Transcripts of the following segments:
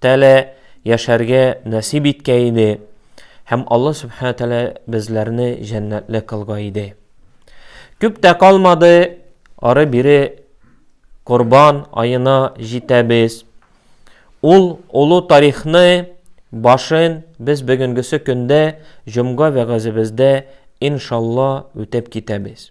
Тәгалә яшәргә нәсиб иткәй иде һәм Алла Сүбхәнә Тәгалә безләрне җәннәтле кылгай иде. Күп тә калмады, ары бире Корбан аена җитәбез. Ул олы тарихны башын без бүгенгесе көндә җомга вәгазебездә иншалла үтеп китәбез.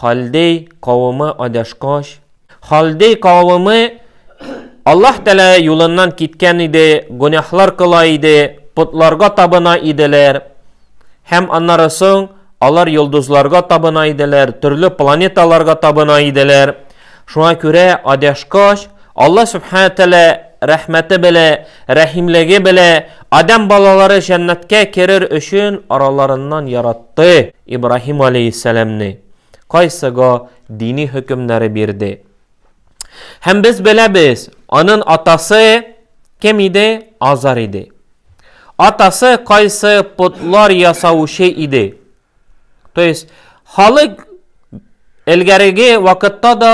Халдей кавымы адашкач, Халдей кавымы Аллаһ Тәлә юлыннан киткән иде, гөнаһлар кыла иде, потларга табына иделәр. Һәм аннары соң алар йолдызларга табына иделәр, төрле планеталарга табына иделәр. Шуңа күрә адәшкач, Алла Субхана Тәлә рәхмәте белә, рәхимлеге белә, Адәм балалары җәннәткә керер өчен араларыннан яратты Ибраһим алейһиссәламне, кайсыга дини хөкемнәре бирде. Һәм без беләбез, анын атасы кем иде? Азар иде. Атасы кайсы потлар ясаучы иде? То есть, халык элгәреге вакытта да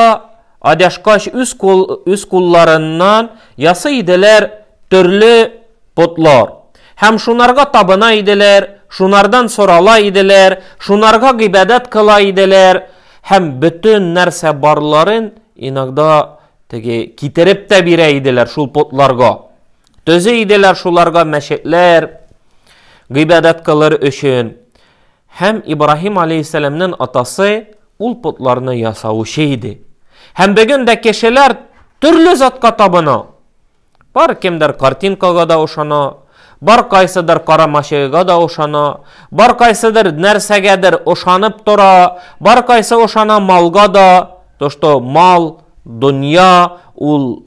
адяшкач үз, кул, үз кулларыннан ясый иделәр төрле потлар. Һәм шунарга табына иделәр, шунардан сорала иделәр, шунарга гыйбадәт кыла иделәр, һәм бөтен нәрсә барларын иногда теге китереп тә бирә иделәр шул потларга. Төзи иделәр шуларга мәчетләр, гыйбадәт кылыр өчен. Һәм Ибраһим алейһиссәламнен атасы ул потларны ясаучы иде. Һәм бүген дә кешеләр төрле затка табына. Бар кемдер картинкага да ошана, бар кайсыдыр карамашыга да ошана, бар кайсыдыр нәрсәгәдер ошанып тора, бар кайсы ошана малга да, то что мал, дөнья ул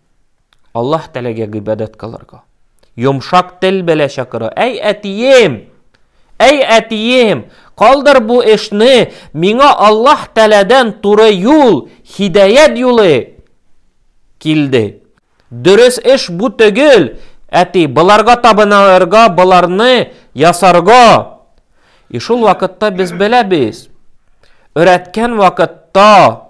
Аллаһ Тәләгә гыйбадәт кылырга. Йомшак тел белә чакыра. Әй әтием! Әй әтием! Калдыр бу эшне, миңа Аллаһ Тәләдән туры юл, хидәят юлы килде. Дөрес эш бу төгел, әти, боларга табынарга, боларны ясарга. И шул вакытта без беләбез. Өрәткән вакытта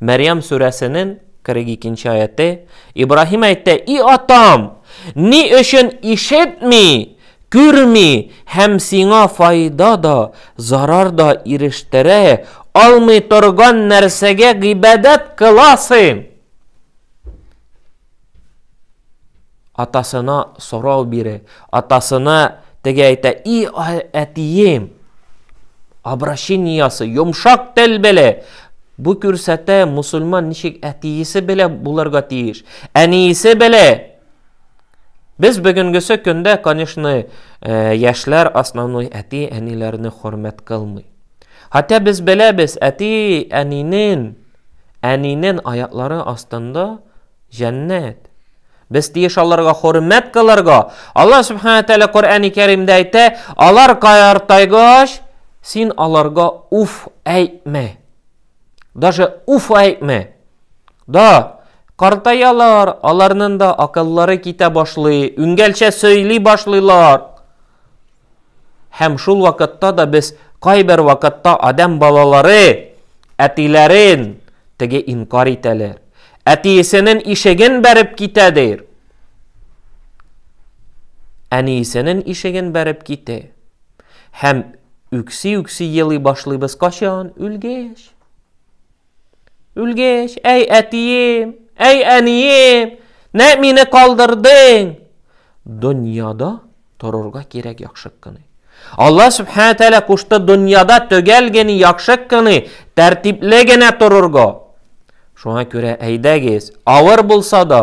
Мәрьям сүрәсенең 42 нче аяты Ибраһим әйтә, И атам, ни өчен ишетми, күрми һәм сиңа файда да, зарар да ирештерә алмый торган нәрсәгә гыйбадәт кыласың? Атасына сорау бире, атасына теге әйтә, и әтием, обращениясы, йомшак тел беле, Бу күрсәтә мусульман ничек әтиесе белә булырга тиеш. Әниесе белә. Без бүгенгесе көндә, конечно, э, яшьләр основной әти әниләрне хөрмәт кылмый. Хәтта без беләбез, әти әнинен Әнинен аяклары астында җәннәт. Без тиеш аларга хөрмәт кылырга. Алла Субхана Тәлә Коръәни Кәримдә әйтә, алар каяртайгач, син аларга уф әйтмә. Даже уф әйтмә. Да, картаялар, аларның да акыллары китә башлый, үңгәлчә сөйли башлыйлар. Һәм шул вакытта да без кайбер вакытта адәм балалары әтиләрен теге инкар итәләр. Әтиесенең ишеген бәреп китә дир. Әниесенең ишеген бәреп китә. Һәм үкси-үкси елый башлыйбыз качан? Үлгәч. Үлгәч, әй әтием, әй әнием, нә мине калдырдың? Дөньяда торырга кирәк яхшы кыны. Алла Субхана Тәлә кушты дөньяда төгәл генә яхшы кыны, тәртипле генә торырга. Шуңа күрә әйдәгез, авыр булса да,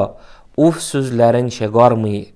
уф сүзләрен чыгармыйк.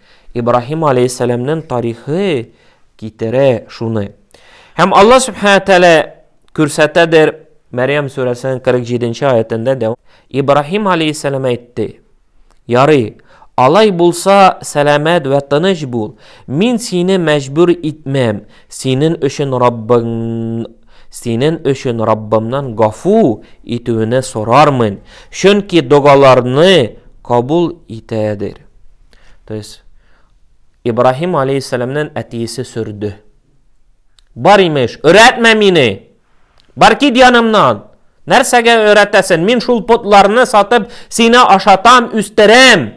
Ибраһим алейһиссәламнең тарихы китерә шуны. Һәм Алла Субхана Тәлә күрсәтәдер Мәрьям сүрәсенең 47-нче аятында да Ибраһим алейһиссәлам әйтте. Ярый, алай булса, сәламәт вә тыныч бул. Мин сине мәҗбүр итмәм. Синең өчен Раббың синең өчен Раббымнан гафу итүне сорармын, чөнки догаларны кабул итәдер. То есть Ибраһим алейхиссәламнән әтиесе сөрде. Бар имеш, өйрәтмә мине. Бар кит янымнан. Нәрсәгә өйрәтәсен? Мин шул потларны сатып, сине ашатам, үстерәм.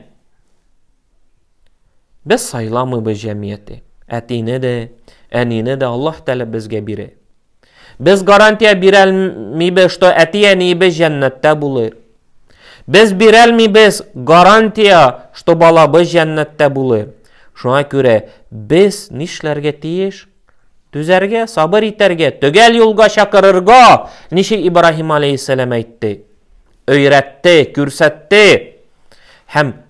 Без сайламыйбыз җәмгыяте. Әтине дә, әнине дә Аллаһ Тәгалә безгә бирә. Без гарантия бирәлмибез, что әти-әниебез җәннәттә булыр. Без бирәлмибез гарантия, что балабыз җәннәттә булыр. Шуңа күрә без нишләргә тиеш? Түзәргә, сабыр итәргә, төгәл юлга чакырырга, ничек Ибраһим алейхиссәлам әйтте, өйрәтте, күрсәтте һәм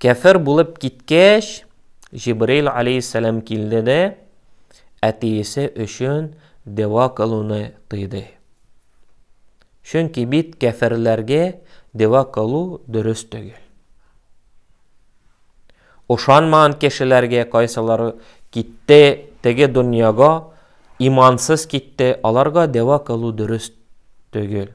Кәфер булып киткәч, Җибрил алейһиссәлам килде дә әтиесе өчен дәва кылуны тыйды. Чөнки бит кәферләргә дәва кылу дөрес түгел. Ошанмаган кешеләргә кайсылары китте теге дөньяга, имансыз китте, аларга дәва кылу дөрес түгел.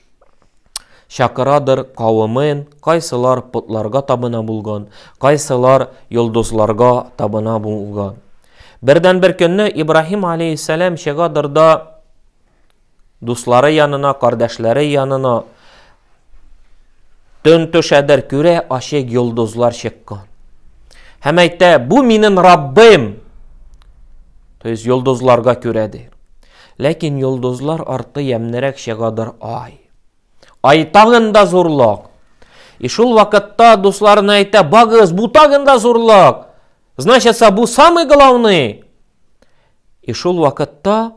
чакырадыр кавымын, кайсылар потларга табына булган, кайсылар йолдызларга табына булган. Бердән бер көнне Ибраһим алейхиссалам чыгадыр да дуслары янына, кардәшләре янына төн төшәдер күрә ачык йолдызлар чыккан. Һәм әйтә, бу минем Раббым. То есть йолдызларга күрәдер. Ләкин йолдызлар арты ямьнерәк чыгадыр Ай. Ай тагын да зурлык! И шул вакытта дусларына әйтә, багыз, бу тагын да зурлык! Значится, бу самый главный! И шул вакытта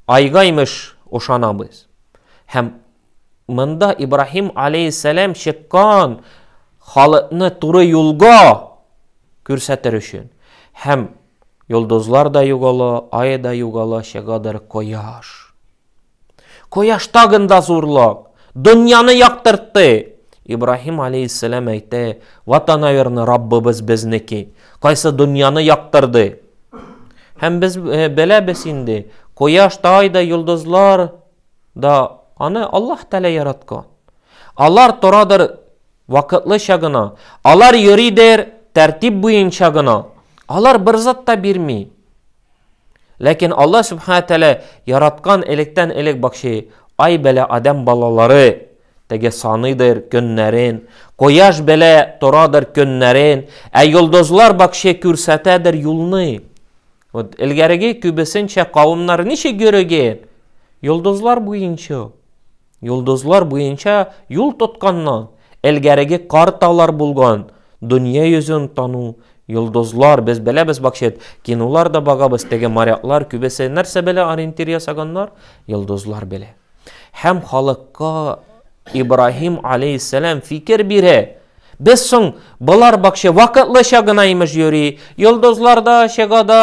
Айга имеш ошанабыз. Һәм монда Ибраһим алейхиссәлам чыккан халыкны туры юлга күрсәтер өчен һәм Йолдызлар да югала, ай да югала, чыгадыр кояш. Кояш тагын да зурлак, дөньяны яктыртты. Ибраһим алейхиссәлам әйтә, вот она верно, Раббыбыз безнеке, кайсы дөньяны яктырды. Һәм без э, беләбез инде, кояш та, ай да, йолдызлар да аны Аллаһ Тәгалә яраткан. Алар торадыр Вакытлыча гына. Алар йөридер, тәртип буенча гына. Алар бер зат та бирми. Ләкин Аллаһ Субхана Тәлә яраткан электән элек бакчы, ай белә адәм балалары, теге саныйдыр көннәрен, кояш белә торадыр көннәрен, ә йолдызлар бакчы күрсәтәдер юлны. Вот элгәреге күбесенчә кавымнар ничек йөрегән? Йолдызлар буенча. Йолдызлар буенча юл тотканнан элгәреге карталар булган дөнья йөзен тану, йолдызлар, без беләбез бакчет, кинолар да багабыз, теге моряклар күбесе нәрсә белә ориентир ясаганнар, йолдызлар белә. Һәм халыкка Ибраһим алейхиссәлам фикер бирә, Без соң болар бакча вакытлыча гына имеш йөри. Йолдызлар да чыга да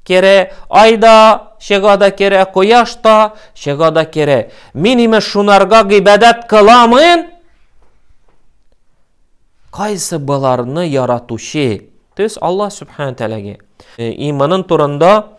керә, ай да чыга да керә, кояш та чыга да керә. Мин имеш шунарга гыйбадәт кыламын. Кайсы боларны яратучы? То есть Аллаһ субхана тәгаләгә. Э, иманын турында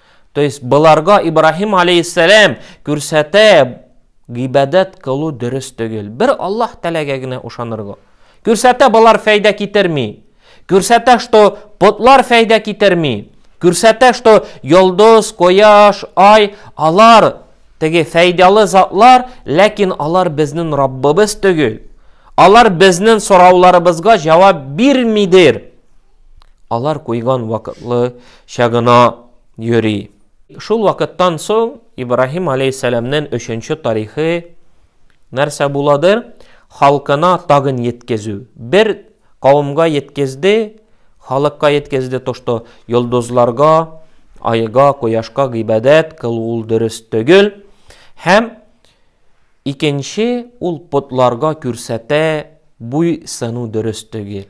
То есть боларга Ибраһим алейһиссәлам күрсәтә гыйбадәт кылу дөрес түгел. Бер Аллаһ теләгә генә ышанырга. Күрсәтә болар фәйдә китерми. Күрсәтә, что потлар фәйдә китерми. Күрсәтә, что йолдыз, кояш, ай, алар теге фәйдалы затлар, ләкин алар безнең Раббыбыз түгел. Алар безнең сорауларыбызга җавап бирмидер. Алар куйган вакытлы чагына йөри. Шул вакыттан соң Ибраһим алейһиссәламнен өченче тарихы нәрсә буладыр? Халкына тагын еткезү. Бер кавымга еткезде, халыкка еткезде то, что йолдызларга, айга, кояшка гыйбадәт кылу ул дөрес түгел. Һәм икенче ул потларга күрсәтә буй сыну дөрес түгел.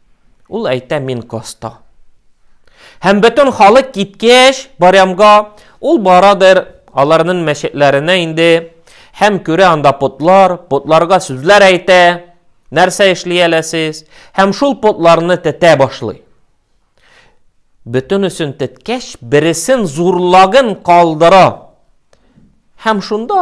Ул әйтә, мин коста. Һәм бөтен халык киткәч, барямга, ул барадыр аларның мәчетләренә инде, һәм күрә анда потлар, потларга сүзләр әйтә, нәрсә эшли әле сез, һәм шул потларны тетә башлый. Бөтенесен теткәч, бересен зурлагын калдыра. Һәм шунда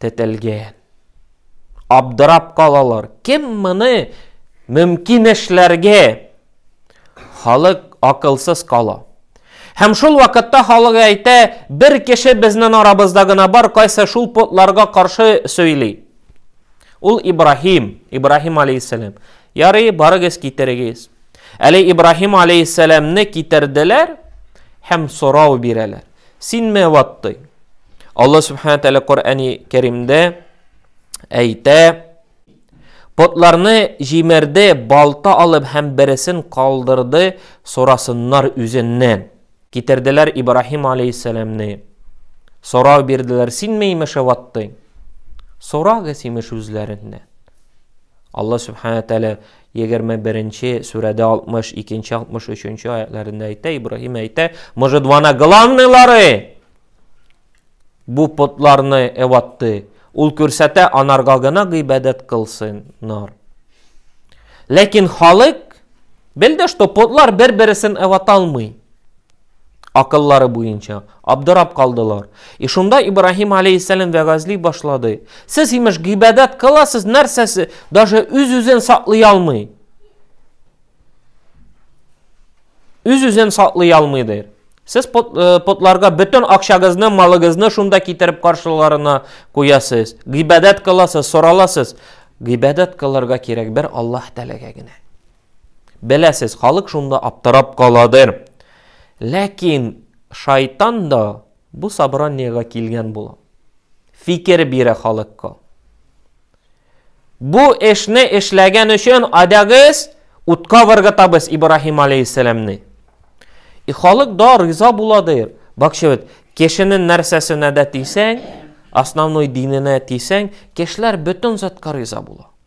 тетелгән. Абдырап калалар. Кем моны мөмкин эшләргә? Халык акылсыз кала. Һәм шул вакытта халык әйтә, бер кеше безнең арабызда гына бар, кайсы шул потларга каршы сөйли. Ул Ибраһим, Ибраһим алейхиссалам. Ярый, барыгыз китерегез. Әле Ибраһим алейхиссаламны китерделәр һәм сорау бирәләр. Син мә ватты. Алла Субхана Тәлә Коръәни Кәримдә әйтә, Потларны җимерде, балта алып һәм бересен калдырды, сорасыннар үзеннән. Китерделәр Ибраһим алейхиссәламне. Сорау бирделәр, син меймеше ваттың? Сорагыз имеш үзләреннән. Алла Субхана Тәлә Егерме беренче сүрәдә алтмыш икенче, алтмыш өченче аятләрендә әйтә, Ибраһим әйтә, может, вана главныйлары бу потларны эватты, ул күрсәтә, анарга гына гыйбадәт кылсыннар. Ләкин халык белде, что потлар бер-бересен эваталмый. Акыллары буенча, абдырап калдылар. И шунда Ибраһим алейһиссәлам вәгазьли башлады. Сез, имеш, гыйбадәт кыласыз, нәрсәсе, даже үз-үзен саклый алмый. Үз-үзен саклый алмый, дир. Сез пот, э, потларга бөтен акчагызны, малыгызны шунда китереп каршыларына куясыз. Гыйбадәт кыласыз, сораласыз. Гыйбадәт кылырга кирәк бер Аллаһ Тәгаләгә генә. Беләсез, халык шунда аптырап каладыр. Ләкин шайтан да бу собраниегә килгән була. Фикер бирә халыкка. Бу эшне эшләгән өчен адагыз утка выргытабыз Ибраһим алейхиссәламне. И халык да риза буладыр. Бакчы бит, кешенең нәрсәсенә дә тисәң, основной диненә тисәң, кешеләр бөтен затка риза була.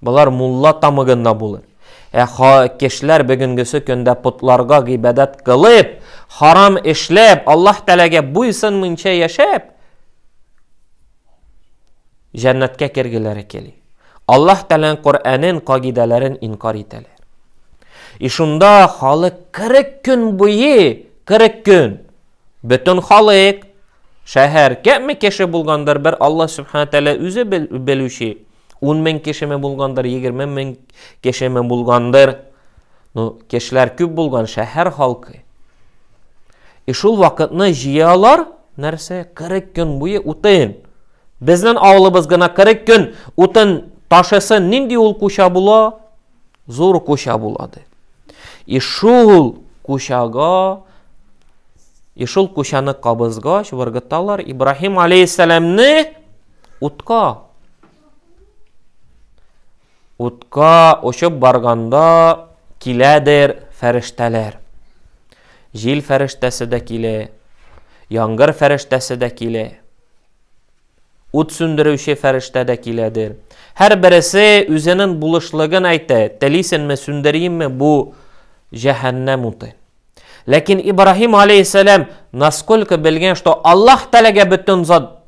Болар мулла тамыгында булыр. Ә ха кешеләр бүгенгесе көндә потларга гыйбадәт кылып, харам эшләп, Аллаһ Тәгаләгә буйсынмыйча яшәп, җәннәткә кергеләре кели. Аллаһ Тәгаләнең Коръәнен, кагыйдәләрен инкар итәләр. И шунда халык 40 көн буе, 40 көн бөтен халык шәһәр кәме кеше булгандыр, бер Аллаһ Субхана Тәгалә үзе белүче. Ун мең кешеме булгандыр, егерме мең кешеме булгандыр. Ну, кешеләр күп булган шәһәр халкы. И шул вакытны җыялар, нәрсә, 40 көн буе утын. Безнең авылыбыз гына 40 көн утын ташысын, нинди ул куча була? Зур куча булады. И шул кучага И шул кучаны кабызгач, выргыталар Ибраһим алейхиссәламне Утка. Утка очып барганда киләдер фәрештәләр. Җил фәрештәсе дә килә, яңгыр фәрештәсе дә килә. Ут сүндерүче фәрештә дә киләдер. Һәр бересе үзенең булышлыгын әйтә. Телисенме, сүндерейме бу җәһәннәм утын? Ләкин Ибраһим алейхиссалам насколько белгән, что Аллаһ Тәгаләгә бөтен зат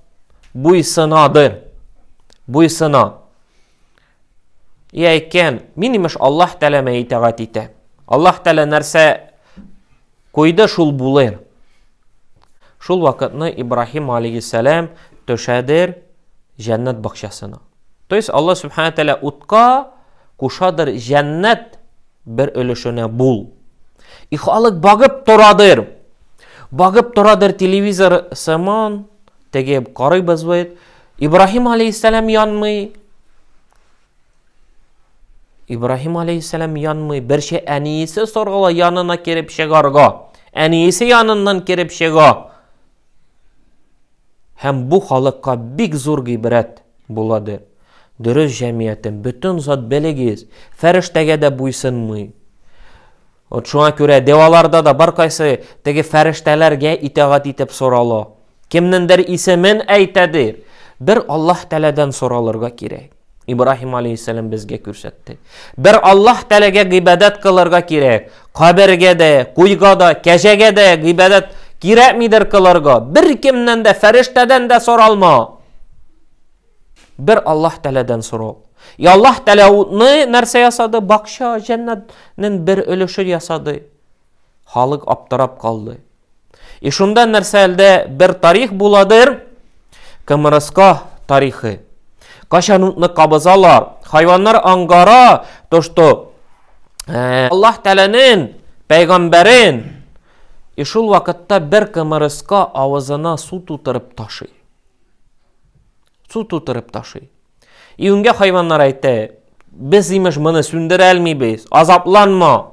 буйсынадыр. Буйсына. Ия икән, мин имеш Аллаһ Тәгаләмә итагать итә. Аллаһ Тәгалә нәрсә куйды, шул булыр. Шул вакытны Ибраһим алейхиссалам төшәдер җәннәт бакчасына. То есть Аллаһ Субхану Тәгалә утка кушадыр җәннәт бер өлешенә бул. И халык багып торадыр. Багып торадыр телевизор сыман, теге карыйбыз бит. Ибраһим алейхиссалам янмый. Ибраһим алейхиссалам янмый, берчә әниесе соргыла янына кереп чыгарга. Әниесе яныннан кереп чыга. Һәм бу халыкка бик зур гыйбрәт буладыр. Дөрес җәмиятем, бөтен зат белегез, фәрештәгә дә буйсынмый. Вот шуңа күрә деваларда да бар кайсы теге фәрештәләргә итагать итеп сорала. Кемнендер исемен әйтәдер. Бер Аллаһ Тәләдән соралырга кирәк. Ибраһим алейхиссәлам безгә күрсәтте. Бер Аллаһ Тәгаләгә гыйбадәт кылырга кирәк. Кабергә дә, куйга да, кәҗәгә дә гыйбадәт кирәкмидер кылырга. Бер кемнән дә, фәрештәдән дә соралма. Бер Аллаһ Тәгаләдән сорау. И Аллаһ Тәгалә утны нәрсә ясады? Бакча, җәннәтнең бер өлеше ясады. Халык аптырап калды. И шунда нәрсә әлдә бер тарих буладыр? Кымырыска тарихы. Кашан утны кабызалар, хайваннар аңгара, то что э, Аллаһ Тәгаләнең пәйгамбәрен и шул вакытта бер кымырыска авызына су тутырып ташый. Су тутырып ташый. И үнгә хайваннар әйтә, без имеш моны сүндерә алмыйбыз, азапланма.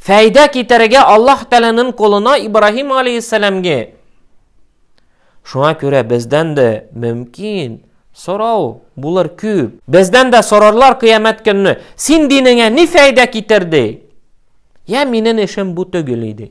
фәйдә китерергә Аллаһ Тәгаләнең кулына Ибраһим алейхиссәламгә. Шуңа күрә бездән дә мөмкин сорау булыр күп. Бездән дә сорарлар кыямәт көнне, син динеңә ни фәйдә китерде? Я минем эшем бу түгел иде.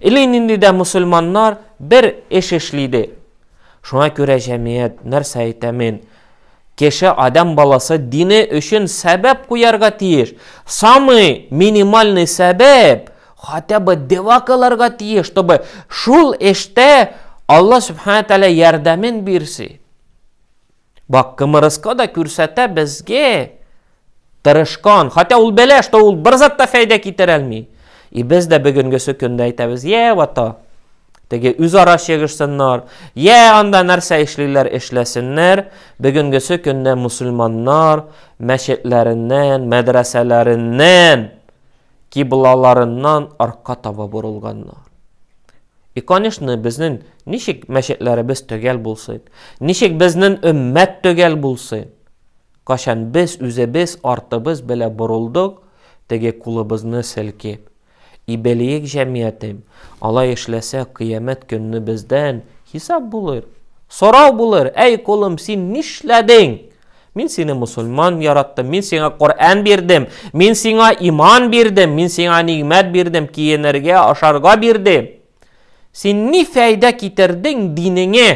Или нинди дә мусульманнар бер эш эшли ди. Шуңа күрә җәмият, нәрсә әйтә мин, кеше адәм баласы дине өчен сәбәп куярга тиеш. Самый минимальный сәбәп хотя бы дева кылырга тиеш, чтобы шул эштә Алла Субхана Тәгалә ярдәмен бирсе. Бак, кымырыска да күрсәтә безгә тырышкан. Хотя ул белә, что ул бер зат та фәйдә китерә алмый. И без дә бүгенгесе көндә әйтәбез, я вата. Теге үзара чыгышсыннар, я анда нәрсә эшлиләр эшләсеннәр, бүгенгесе көндә мусульманнар мәчетләреннән, мәдрәсәләреннән, киблаларыннан арка таба борылганнар. И конечно безнен ничек мәчетләребез төгәл булсын, ничек безнен өммәт төгәл булсын? Качан без үзебез артыбыз белә борылдык, теге кулыбызны селкип. И белиек җәмиятем, алай эшләсә кыямәт көнне бездән хисап булыр. Сорау булыр, әй колым син нишләдең? Мин сине мусульман яраттым, мин сиңа Коръән бирдем, мин сиңа иман бирдем, мин сиңа нигъмәт бирдем, киенергә, ашарга бирдем. Син ни фәйдә китердең динеңә?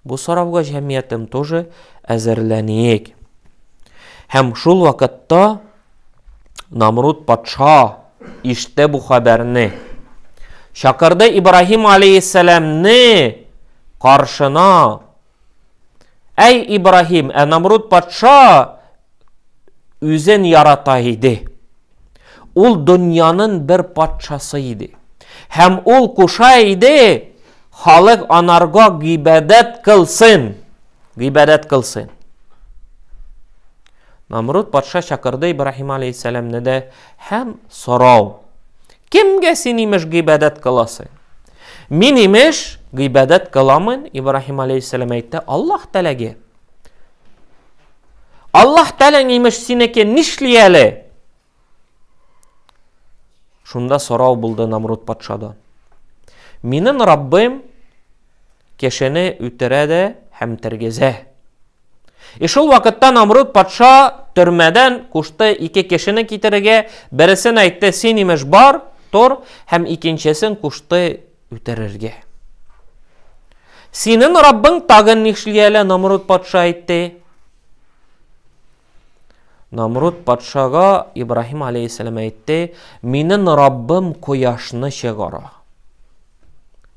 Бу сорауга җәмгыятем тоже әзерләнек. Һәм шул вакытта Намруд патша иште бу хәбәрне. Чакырды Ибраһим алейхиссәламне каршына Әй Ибраһим, ә Намруд патша үзен ярата иде. Ул дөньяның бер патшасы иде. Һәм ул куша иде, халык анарга гыйбадәт кылсын. Гыйбадәт кылсын. Намруд патша чакырды Ибраһим алейхиссәламне дә һәм сорау Кемгә син, имеш, гыйбадәт кыласың? Мин, имеш, гыйбадәт кыламын, Ибраһим алейхиссәләм әйтте, Аллаһ тәләге. Аллаһ тәләң, имеш, синеке нишли әле? Шунда сорау булды Намруд патшадан. Минем Раббым кешене үтерә дә һәм тергезә. И шул вакытта Намруд патша төрмәдән кушты ике кешене китерергә, бересен әйтте, син имеш бар, тор, һәм икенчесен кушты үтерергә. Синен Раббың тагын нишли әле, Намруд патша әйтте. Намруд патшага Ибраһим алейхиссәләм әйтте, минен Раббым кояшны чыгара.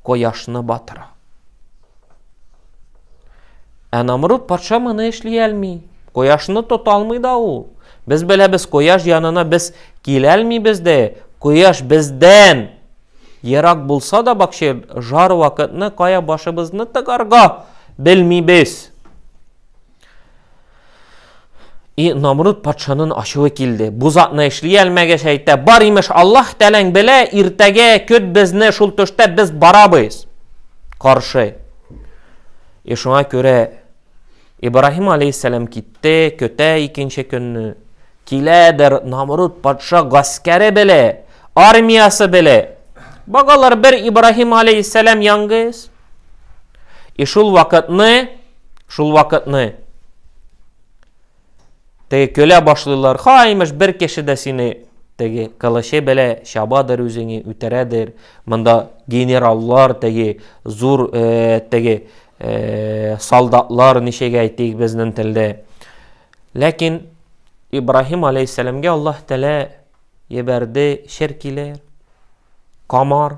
кояшны батыра. Ә Намруд патша моны эшли алмый. Кояшны тота алмый да ул. Без беләбез, кояш янына без килә алмыйбыз да, кояш бездән ерак булса да бакчы жар вакытны кая башыбызны тыгарга белмибез. И Намруд патшанын ачуы килде. Бу затны эшли алмәгәч әйтә, бар имеш Аллаһ тәләң белә, иртәгә көт безне шул төштә без барабыз. Каршы. И шуңа күрә Ибраһим алейхиссалам китте, көтә икенче көнне. Киләдер Намруд патша гаскәре беле, армиясе беле. Багалар бер Ибраһим алейхиссалам яңгыз. И шул вакытны, шул вакытны теге көлә башлыйлар, ха, имеш, бер кеше дә сине теге кылычы белә чабадыр үзеңе үтерәдер. Монда генераллар теге зур э, теге э, солдатлар ничек әйтик безнең телдә. Ләкин Ибраһим алейхиссәламгә Аллаһ Тәгалә ебәрде шер килер, камар,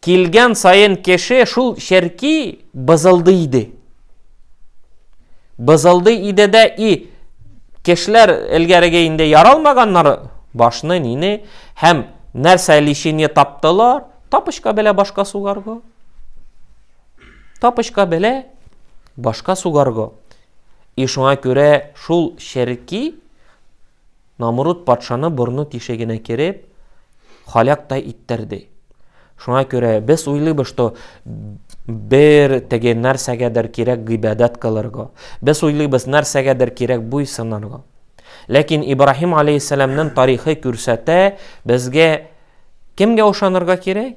килгән саен кеше шул черки бызылды иде. Бызылды иде дә и кешеләр элгәреге инде яралмаганнар башны нине һәм нәрсә лечение таптылар, тапочка белә башка сугарго. Тапочка белә башка сугарго. И шуңа күрә шул черки Намруд патшаны борыны тишегенә кереп, халяктай иттерде. Шуңа күрә без уйлыйбыз, что бер теге нәрсәгәдер кирәк гыйбадәт кылырга. Без уйлыйбыз, нәрсәгәдер кирәк буйсынырга. Ләкин Ибраһим алейхиссәламнең тарихы күрсәтә, безгә кемгә ышанырга кирәк?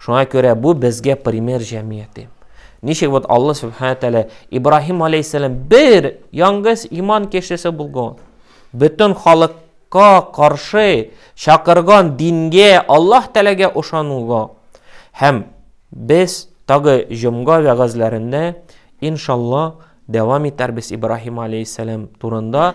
Шуңа күрә бу безгә пример җәмгыяте. Ничек вот Алла Субхана Тәлә Ибраһим алейхиссалам бер яңгыз иман кешесе булган. Бөтен халыкка каршы чакырган дингә Аллаһ Тәләгә ошануга һәм без тагы җомга вәгазьләрендә иншалла дәвам итәрбез Ибраһим алейхиссалам турында.